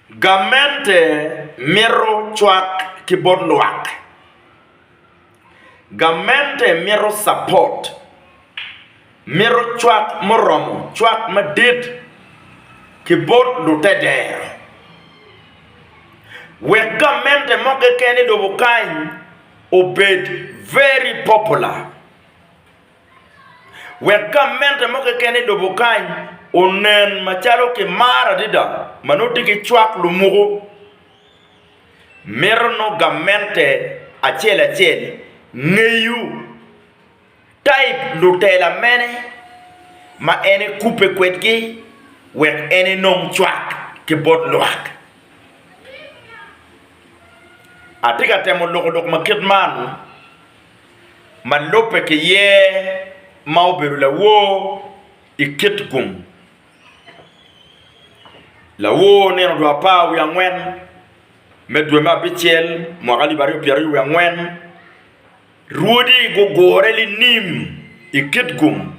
Gamente mito cwak ki bot lwak. Gamente mito capot. Mito cwak muromo, cwak madit ki bot lutedero. Wek gamente mo keken i lobo kany obed very popular. wek gamente mo keken i lobo kany onen macalo kimaro adada ma nongo tye ki cwak lumuko, mito nongo gamente acel acel ngeyo taip lutela mene ma en ekubbe kwedgi wek en enong cwak ki bot lwak. Atye ka temo loko lok ma kit man. ma lubbe ki ye ma obedo lawor i kit gum. Lawor nino dwe apar wiye angwen me dwe me abicel mwaka alip aryo pyeraryo wiye angwen, rwodi gugure linim i kit gum.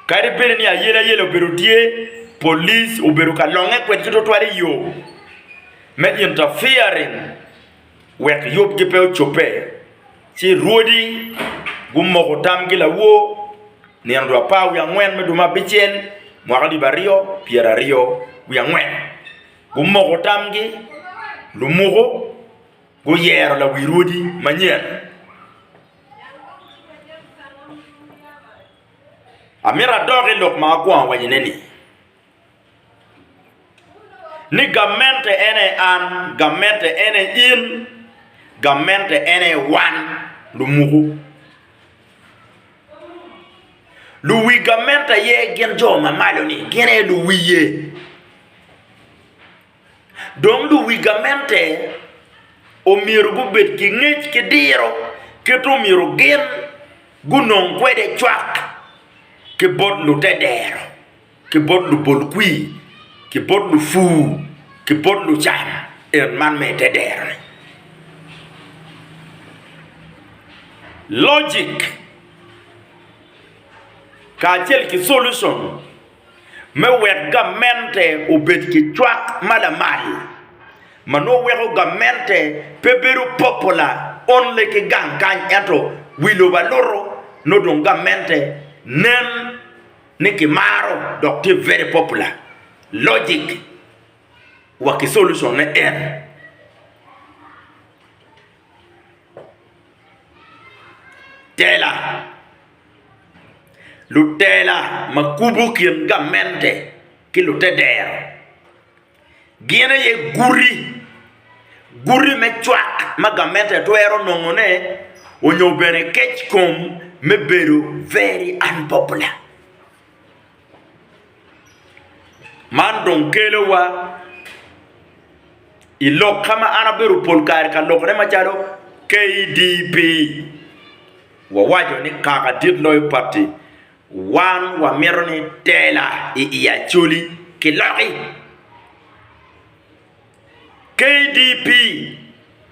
Kadi bed ni ayelayela obedo tye, police obedo ka longe kwedgi tutwal i yo me interfering. wek yubgi pe ocobbe, ci rwodi gumoko tamgi lawor nino dwe apar wiye angwen me dwe me abicel, mwaka alip aryo pyera aryo wiye angwen. Gumoko tamgi, lumuko guyero lawi rwodi manyen. Amito adok i lok ma akwongo awacone-ni, ni gamente en aye an, gamente en aye in, gamente en aye wan lumuku. Luwi gamente aye gin jo ma malo-ni, gin aye luwiye. Dong luwi gamente omyero gubed ki ngec ki diro kit omyero gin gunong kwede cwak ki bot lute dero. ki bot lubolkwir, ki bot lupur, ki bot lucam en man me i te dero-ni. Logic kacel ki solution me wek gamente obed ki cwak ma lamal ma nongo weko gamente pe bedo popular only ki gang kany ento wi lobo aluto nongo dong gamente nen ni ki maro dok tye very popular logic wa ki solution ne en tela lutela ma kubu kin gamente ki lute dero. gin aye guti, guti me cwak ma gamente twero nongone onyo bene kec kom me bedo very unpopular. Man dong kelowa i lok ka ma an abedo pol kare ka lokone macalo KDP wawaco ni kaka dit loyo pati. Wan wamito ni tela i i Acholi kiloki. KDP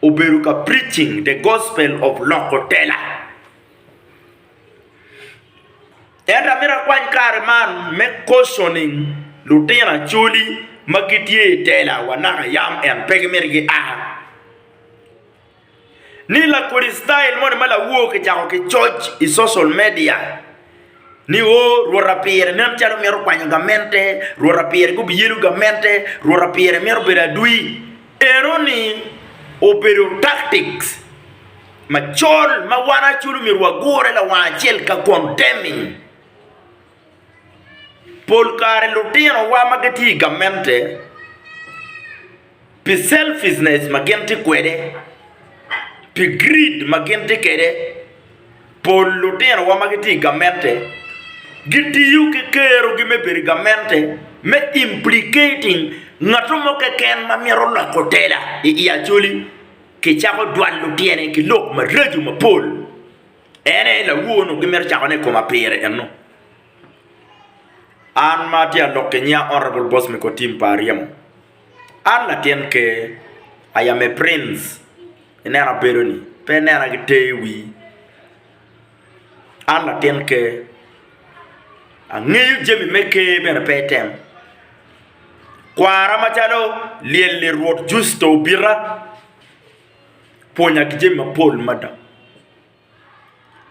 obedo ka preaching the gospel of loko tela. Ento amito akwany kare man me cautioning lutino Acholi ma gitye i tela wa naka yam en pe gimito gia. ni lakodi style moni ma lawoo kicako kicoc i social media ni o Rwot apire nen calo mito kwanyo gamente, Rwot apire gubiyelo gamente, Rwot apire mito bedo adwi, enoni obedo tactics macol ma wan Acholi omyero wagure lawang acel ka condemning. Pol kare lutinowa ma gitye i gamente. pi selfishness ma gin tye kwede, pi greed ma gin tye kwede. Pol lutinowa ma gitye i gamente gitiyo ki kerogi me bedo i gamente me implicating ngat mo keken ma mito loko tela i Acholi. Kicako jwalo tyene ki lok maraco mapol. En aye lawo-nu gimito cakone i koma pire eno. An ma atye ka lok ki nyinga Honourable Bosmiko Tim pa aryemo. An latin ker, I am a prince, ineno abedo-ni, pe inena ki ter i wii. An latin ker, angeyo jami me ker bene pe item. Kwara macalo lyel-li Rwot Jucito obita, pwonya ki jami mapol mada.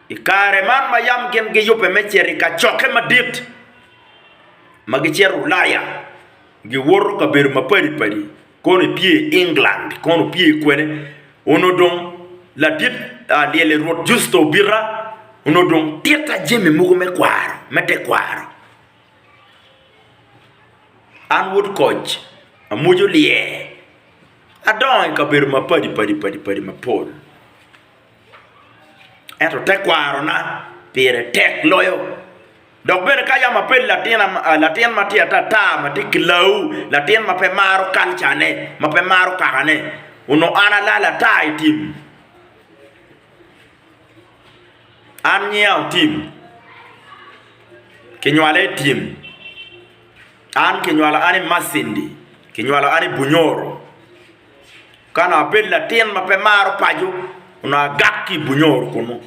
I kare man ma yam gin giyubbe me cito i kacokke madit ma gicito Ulaya, giwoto kabedo mapadi padi, kono epye i England kono opye kwene, onongo dong ladit lyel i Rwot Justo obita, onongo dong titta jami mogo me kwaro, me tekwaro. An wod koc, amwoco lyer, adongo i kabedo mapadi padi mapol. Ento tekwarona pire tek loyo. Dok bene ka yam abedo latin ma tye atata ma tye kilawu, latin ma pe maro kalcane, ma pe maro kakane, onongo an alal ata i tim. An nyinga otim, kinywala i tim, an kinywalo an i Masindi, kinywalo an i Bunyoro. Ka onongo abedo latin ma pe maro paco, onongo agak ki i Bunyoro kunnu.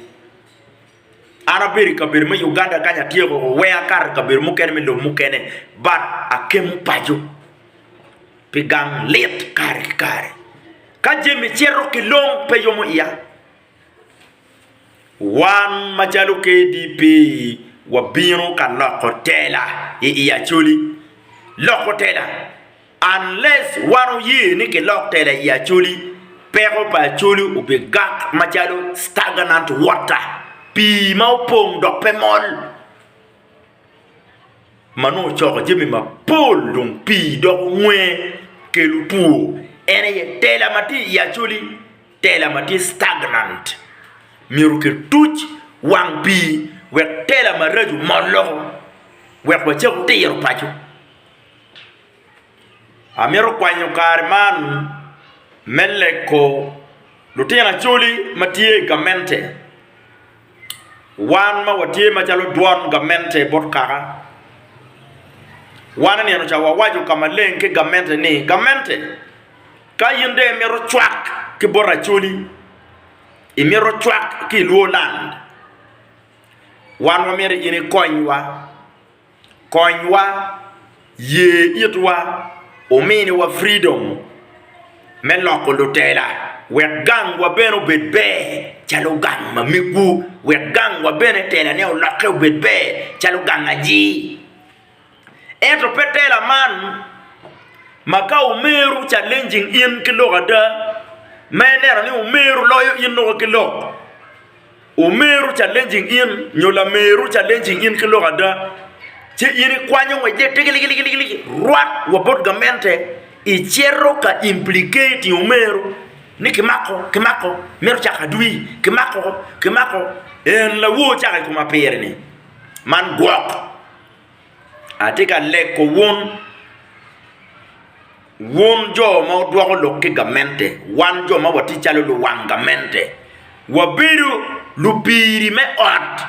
An abedo i kabedo me Uganda kany atyeko woko, weng akato i kabedo mukene me lobo mukene but akemo paco pi gang lit kare ki kare. Ka jami cito ki long pe yomo iya. Wan macalo KDP wabino ka loko tela i Acholi. Loko tela? Unless wan oye ni kilok tela i Acholi, peko pa Acholi obigak macalo stagnant water, pii ma opong dok pe mol, ma nongo ocoko jami mapol dong pii doko nwer kelo two. En aye tela ma tye i Acholi. Tela ma tye stagnant myero kituc wang pii wek tela maraco mol loko wek wacak tiro paco. Amito kwanyo kare man me leko lutino Acholi ma tye i gamente, wan ma watye macalo dwon gamente bot kaka. Wan nino ca wawaco ka maleng ki gamente ni, Gamente! Ka in dong imito cwak ki bot Acholi, imito cwak ki i Luo land, wan wamito in ikonywa. Konywa, ye itwa, ominiwa fridom me loko lutela wek gangwa bene obed ber calo gang ma megwu, wek gangwa bene telane olokke obed ber calo gang aji. Ento pe tela man ma ka omeru challenging in ki lok ada ma ineno ni omeru loyo in nongo ki lok. Omeru challenging in nyo lameru challenging in ki lok ada ci in ikwanyo ngwecce tigiligiligi rwat wa bot gamente icito ka implicating omeru ni kimako kimako mito cako adwir kimako kimako en lawo cako i koma pire-ni man gwok. Atye ka leko wun, wun jo ma wudwoko lok ki gamente, wan jo ma watye calo luwang gamente, wabedo lupiri me ot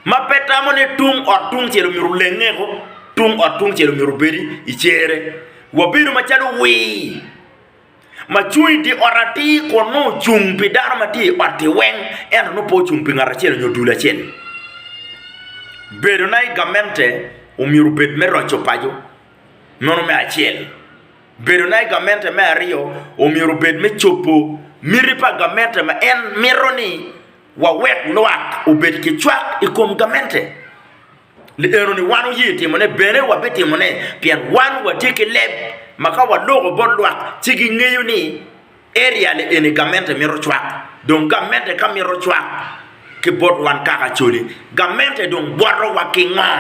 ma pe tamo ni tung ot tungcel omyero olengeo, tung ot tungcel omyero obedi i cere, wabedo macalo wir. ma cung i dye ot atir kun nongo ocung pi dano ma tye i ot-ti weng ento nongo pe ocung pi ngat acel nyo dul acel. Bedona i gamente omyero obed me roco paco, meno me acel. Bedona i gamente me aryo omyero obed me cobo miti pa gamente ma en mito ni wawek lwak obed ki cwak i kom gamente. Ni enoni wan wuye timone, bene wabitimone, pien wan watye ki leb ma ka waloko bot lwak ci gingeyo ni Area le eni gamente mito cwak, dong gamente ka mito cwak ki bot wan kaka coli, gamente dong bwoto wa ki ngo?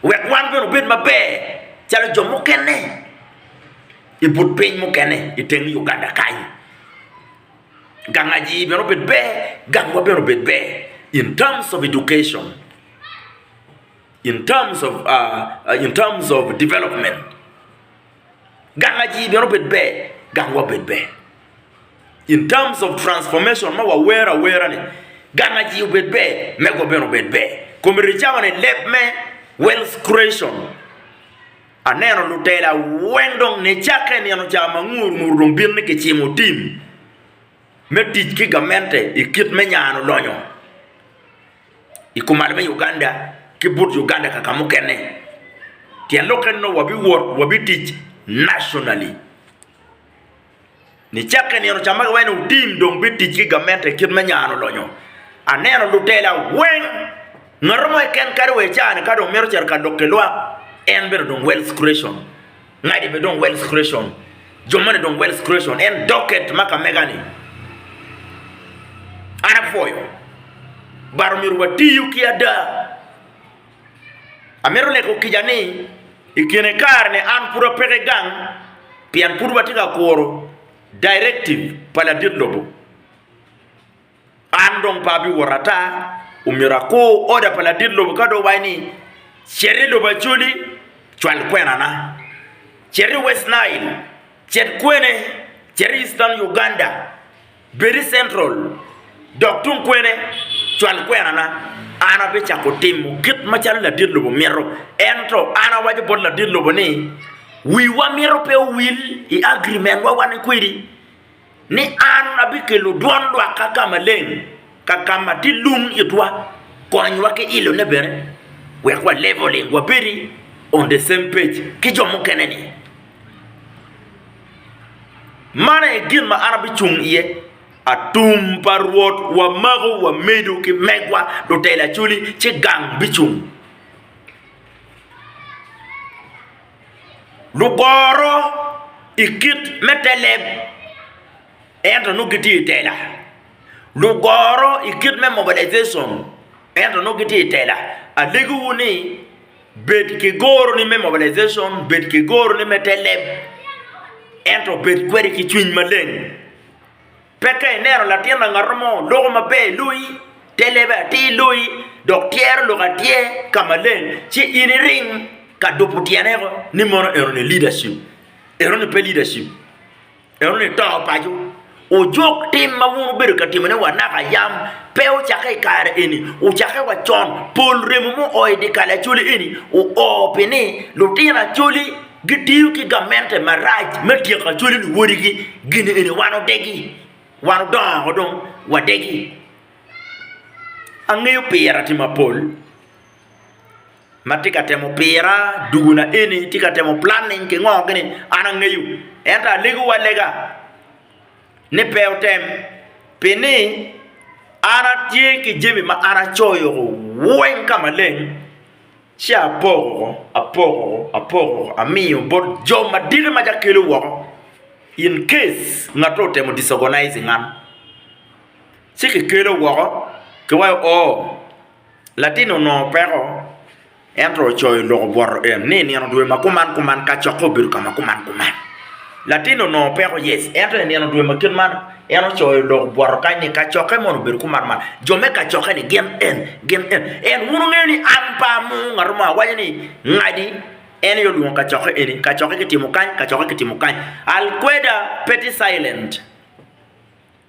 Wek wan bene obed maber calo jo mukene I but piny mukene I teng Uganda kany. gang aii bene obed ber, gangwa bene obed ber in terms of education, in terms of in terms of development gang aii bene obed ber, gangwa obed ber in terms of transformation ma wawer awerani gang aii obed ber, megwa bene obed ber, kome ricama ni leb me wealth creation. Aneno lutela weng dong nicakke i nino ca ma ngur ngur dong bino ni kicimo tim me tic ki gamente i kit me nyano lonyo i kumaal me Uganda ki but Uganda kaka mukene pien lok eno wabiwot wabitic nationally. Nicakke nino ca ma giwaco ni wutim dong bit tic ki gamente i kit me nyano lonyo, aneno lutela weng, ngat mo keken kadi wa i caa-ni ka dong mito cito ka lok ki lwak, en bene dong wealth creation, ngati bene dong wealth creation, jo moni dong wealth creation, en docket ma ka mega-ni. An apwoyo, but omyero watiyu ki ada. Amito lego kica ni i kine kare-ni an pud apeke gang pien pud watye ka kuro directive pa ladit lobo. An dong pe abiwot ata, omyero akur order pa ladit lobo ka dong owaco ni cet i lobo Acholi cwal kwenana, cet i West Nile cet kwene, cet i Eastern Uganda. Bed i Central, dok tung kwene, cwal kwerana, an abicako timo kit macalo ladit lobo mito. Ento an awaco bot ladit lobo ni, 'Wiwa myero pe owil i agirimentwa wan kwedi, ni an abikelo dwon lwakka ka maleng, ka ka ma tye lung itwa. Konywa ki ilone bene wek wa leveling, wabedi on the same page ki jo mukene-ni. Man aye gin ma an abicung iye, atum pa Rwot wamako wamedo ki megwa lutela acoli, ci gang bicung. Lugoro i kit me te leb, ento nongo gitye i tela, lugoro i kit me mobilization, ento nongo gitye i tela, alegiwu ni. Bed ki goroni me mobilization, bed ki goroni me te leb, ento bed kwede ki cwiny maleng. Pe ka ineno latin langatto mo loko maber i loyi, te lebe atir i loyi, dok tyero lok atyer ka maleng, ci in iring ka dupu tyene woko ni mono enoni leadership. Enoni pe leadership. Ento nito paco, ojok tim ma wun wubedo ka timone wa naka yam pe ocakke i kare eni, ocakke wa con. Pol remo ma oo i dyekal Acholi eni oo pi ni lutino Acholi gitiyo ki gamente marac me tyeko Acholi luwodigi. Gin eni wan odegi, wan odongo woko dong wadegi. Angeyo pire tima pol. ma tye ka temo pira duguna eni tye ka temo planning ki ngo kini an angeyo ento alego wa lega ni pe otem pi ni an atye ki jami ma an acoyo weng ka maleng ci apoko apoko apoko amiyo bot jo madito ma ca kelo woko in case ngate otemo disorganizing an ci ki kelo woko ki waco oo Latin onongo peko, ento ocoyo lok obwoto en ni i nino dwe ma kuman kuman kacokke obedo ka ma kuman kuman. Latin onongo peko, yes, ento i nino dwe ma kit man en ocoyo lok obwoto kany ni kacokke mono obedo kuman man. Jo me kacokke-ni gin en, gin en. En wun wungeyo ni an pe amoo ngat mo, awaco ni, Ngadi, en aye olwongo kacokke eni, kacokke kitimo kany, kacokke kitimo kany. Alkweda, petty silent.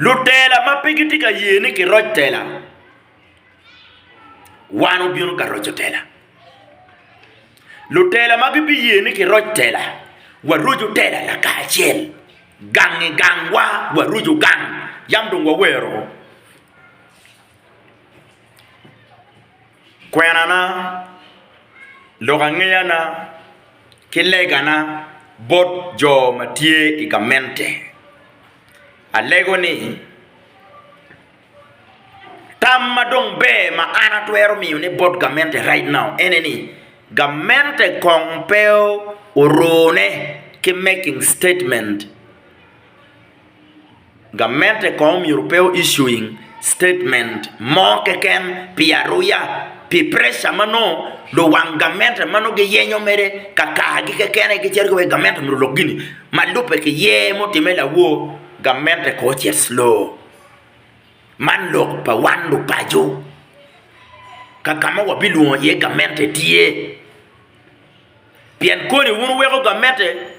Lutela ma pe gitye ka ye ni kiroc tela, wan obino ka roco tela. Lutela ma gibiye ni kiroc tela, waroco tela lakacel, gang i gangwa waroco gang, yam dong wawero. Kwenana, lukangeyana, ki legana bot jo ma tye i gamente, alego ni, Tam ma dong ber ma an atwero miyo ne bot gamente right now ene ni, gamente kong pe orune ki making statement. Gamente kono myero pe o issuing statement mo keken pi aruya pi pressure ma nongo luwang gamente ma nongo giyenyo mere kakargi kekene gicito giweko gamente myero olok gini ma lubbe ki yer ma otimme lawor gamente kono ocit slow. Man lok pa wan lupaco kaka ma wabilwongo iye gamente tye pien koni wun wuweko gamente.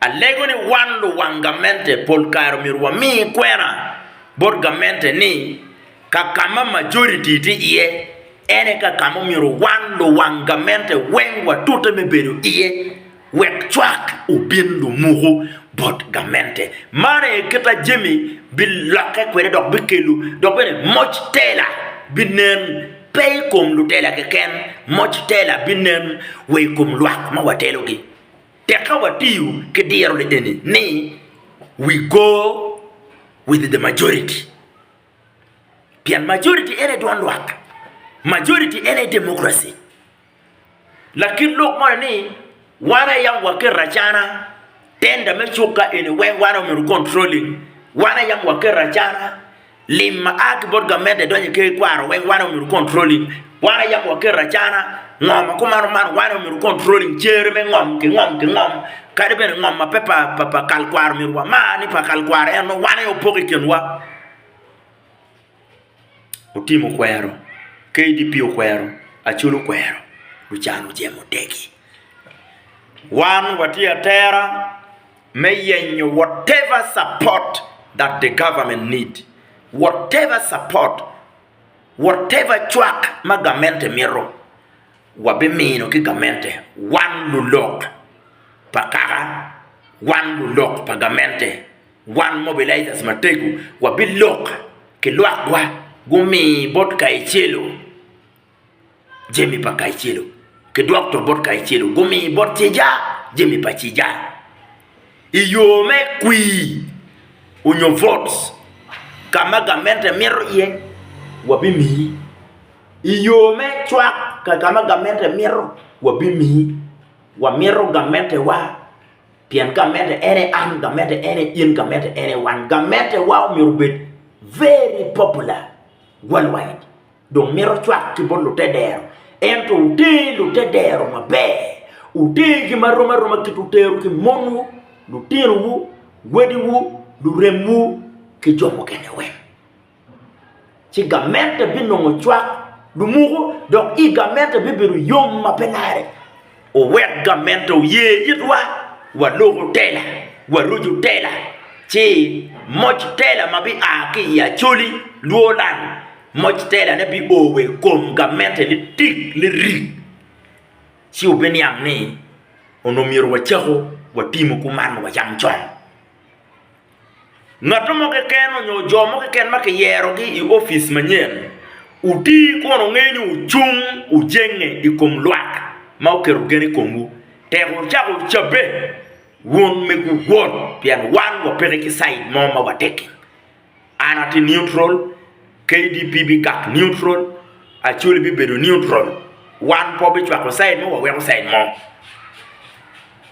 Alego ni wan luwang gamente pol kare omyero wami kwena bot gamente ni kakama majoriti tye iye ene kakama omyero wan luwang gamente weng watute me bedo iye wek cwak obin lumuku bot gamente. Man aye kit ma jami bilokke kwede dok bikelo dok bene moc tela binen pe ikom lutela keken, moc tela binen wa ikom lwak ma watelogi. Tek ka watiyo ki diro ni eni ni we go with the majority pien majority en aye dwan lwak, majority en aye democracy. Lakit lok moni ni wan aye yam waketo acana tender me cuk ka eni wek wan aye omyero ocontrolling, wan aye yam waketo acana. Lim ma a ki bot gamente idonyo i ker ikwaro weng one omyero controlling wan ayabo wa keto acana ngo ma kumano man one omyero controlling cere me ngom ki ngom ki ngom kadi bene ngom ma pe pa kal kwaro omyero wa mar ni pa kal kwaro en nongo wan aye opoko i kin wa Otim okwero KDP okwero Acol okwero lucan ojemo tegi wan watye atera me yenyo whatever support that the government need, whatever support, whatever cwak ma gamente mito, wabimino ki gamente, wan lulok pa kaka, wan lulok pa gamente, wan mobilizers mategu wabilok ki lwakwa gumi bot Kayecelo Jami pa Kaicelo ki dokto bot Kaicelo gumi bot Ceja jami pa Ceja i yo me kwir onyo votes ka ma gamente mito iye wabimiyi i yo me cwak ka ka ma gamente mito wabimiyi wamito gamentewa pien gamente en aye an gamente en aye in gamente en aye wan gamentewa myero obed very popular world wide. Dong mito cwak ki bot lute dero, ento wuter lute dero maber. Wutergi ma rom aroma kit wutero ki monwu, lutinowu, wadiwu, luremwu, ki jo mukene weng. Ci gamente binongo cwak, lumuko, dok i gamente bibedo yom ma pe lare. Owek gamente oye itwa, waluku tela, warucu tela, ci moc tela ma bia ki i Acholi, Luoland, moc telane bio wa i kom gamente litik lirik. Ci wubiniang ni onongo myero wacaku watimo kuman wacam con. Ngat mo keken onyo jo mo keken ma kiyero gi i opic manyen oti kun ongeyo ni wucung wujenge i kom lwak ma oketo gen i komwu tek wucako wucabbe wun me guwot pien wan wapeke ki cid mo ma wategi. An ati neutral. KDP bikak neutral, Acholi bibedo neutral, wan pe wabicwako side mo waweko side mo.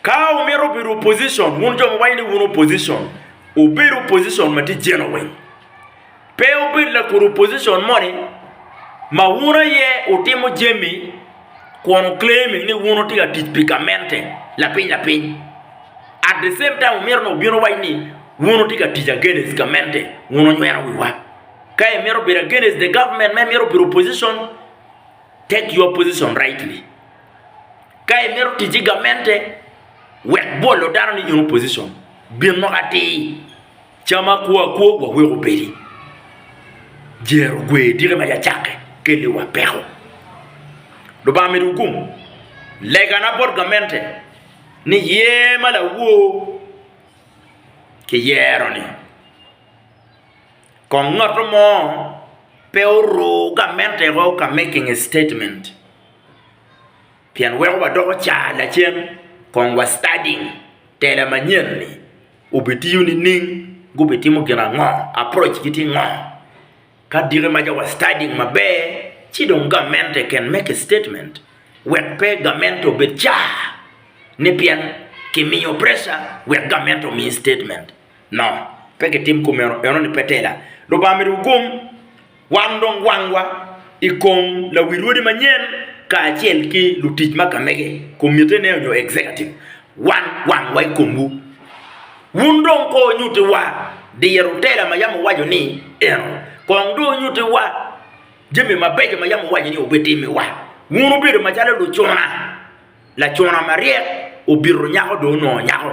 Ka wumito bedo opposition, wun jo ma wawaco ni wun opposition, wubed opposition ma tye genuine. Pe wubed lakwor opposition moni ma wun aye wutimo jami kun wuclaiming ni wun wutye ka tic pi gamente lapiny lapiny, at the same time wumito ni wubin wuwac ni wun wutye ka tic against gamente, wun wunyweno wiwa. Ka imito bedo against the government ma imito bedo opposition, take your position rightly. Ka imito tic ki gamente, wek bolo dano ni in opposition. Bin lok atir, cam akwo akwo wa wek obedi. Jer ogwer tike ma cacakke kelliwa peko. Lubanga medo wukum. Legana bot gamente ni yer ma lawor kiyero ni. kong ngatto mo pe oru gamente woko ka making a statement pien weko wadoko car lacen kong wa studying tela manyen ni obitiyo nining gubitimo gin ango approach gi tye ngo ka diki ma wa studying maber ci dong gamente can make a statement wek pe gamente obed car ni pien kimiyo pressure wek gamente omi statement. No, pe kitim kumeno, enoni pe tela. Lubanga myero wugum wan dong wangwa i kom lawi rwodi manyen kacel ki lutic ma kamege, komitene nyo executive, wan wangwa i komwu. Wun dong ko nyutiwa diro tela ma yam wuwaco ni eno, kong dong wunyutiwa jami mabeco ma yam wuwaco ni wubitimiwa. Wun wubedo macalo lucuna, lacuna maryek obito nyako dong onongo nyako.